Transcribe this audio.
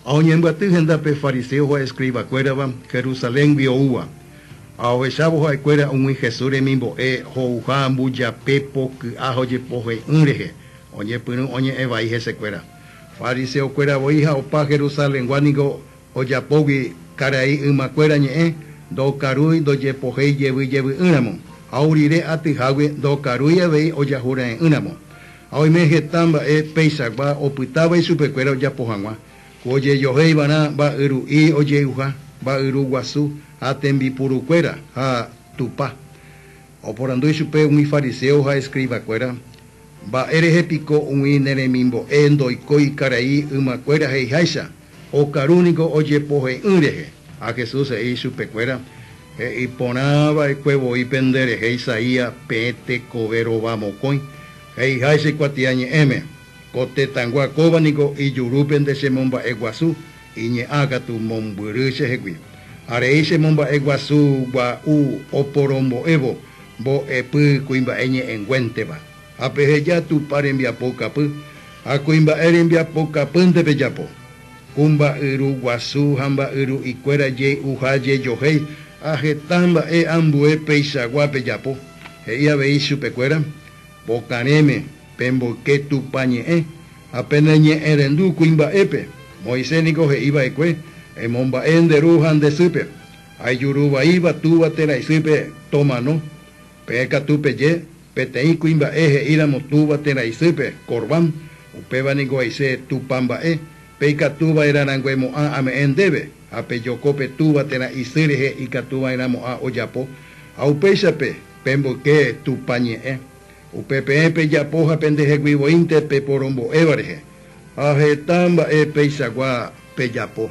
Ha oñembyaty henda pe fariseo ha escriba kuérava Jerusaléngui oúva, ha ohechávo ha'e kuéra umi Jesús remimbo'e ho'uha mbujape poky'a ha ojepohe'ỹ rehe, oñepyrũ oñe'ẽ vai hese kuéra. Fariseo kuéra voi ha opa Jerusalengua niko ojapógui karai yma kuéra ñe'ẽ, ndokarúi ndojepohéi jevy jevy'ỹ ramo, ha ou rire atyhágui ndokarúi avei ojahurae'ỹ ramo. Ha oime heta mba'e peichagua opytáva ichupekuéra ojapo hag̃ua, ku ojejohe ivarã mba'yru'i ojey'uha, mba'yru guasu, ha tembipurukuéra, ha Tupã. Oporandu ichupe umi fariséo ha escribakuéra, Mba'érehe piko umi ne remimbo'e ndoikói karai ymakuéra he'iháicha? Okaru niko ojepohe'ỹ rehe. Ha Jesús he'i ichupekuéra, He'i porã va'ekue voi pende rehe Isaía peẽ tekove rova mokõi, he'iháicha ikuatia ñe'ẽme, Ko tetãgua kóva niko ijurúpe nde che momba'e guasu, iñe'ã katu mombyry che hegui. Ha rei che momba'e guasu gua'u oporombo'évo mbo'epy kuimba'e ñe'ẽnguénteva. Ha peheja Tupã rembiapokapy, ha kuimba'e rembiapokapýnte pejapo. Ku mba'yru guasu ha mba'yru ikuéra jey'uha jejohéi, ha heta mba'e ambue peichagua pejapo, he'i avei chupekuéra, Pokarẽme, pemboyke Tupã ñe'ẽ, ha peneñe'ẽrendu kuimba'épe. Moisés niko he'i va'ekue, Emomba'e nde ru ha nde sýpe, ha ijuru vaíva túva térã isýpe tomano. Peẽ katu peje, Peteĩ kuimba'e he'íramo túva térã isýpe, Corbán, upéva ningo he'ise Tupã mba'e, pe ikatu vaerã rangue mo'ã ame'ẽ ndéve, ha pe joko pe túva térã isy rehe ikatu vaerã mo'ã ojapo, ha upéichape, pe mboyke Tupã ñe'ẽ. Upe peẽ pejapo ha pendehegui voínte pe porombo'éva rehe, ha heta mba'e peichagua pejapo.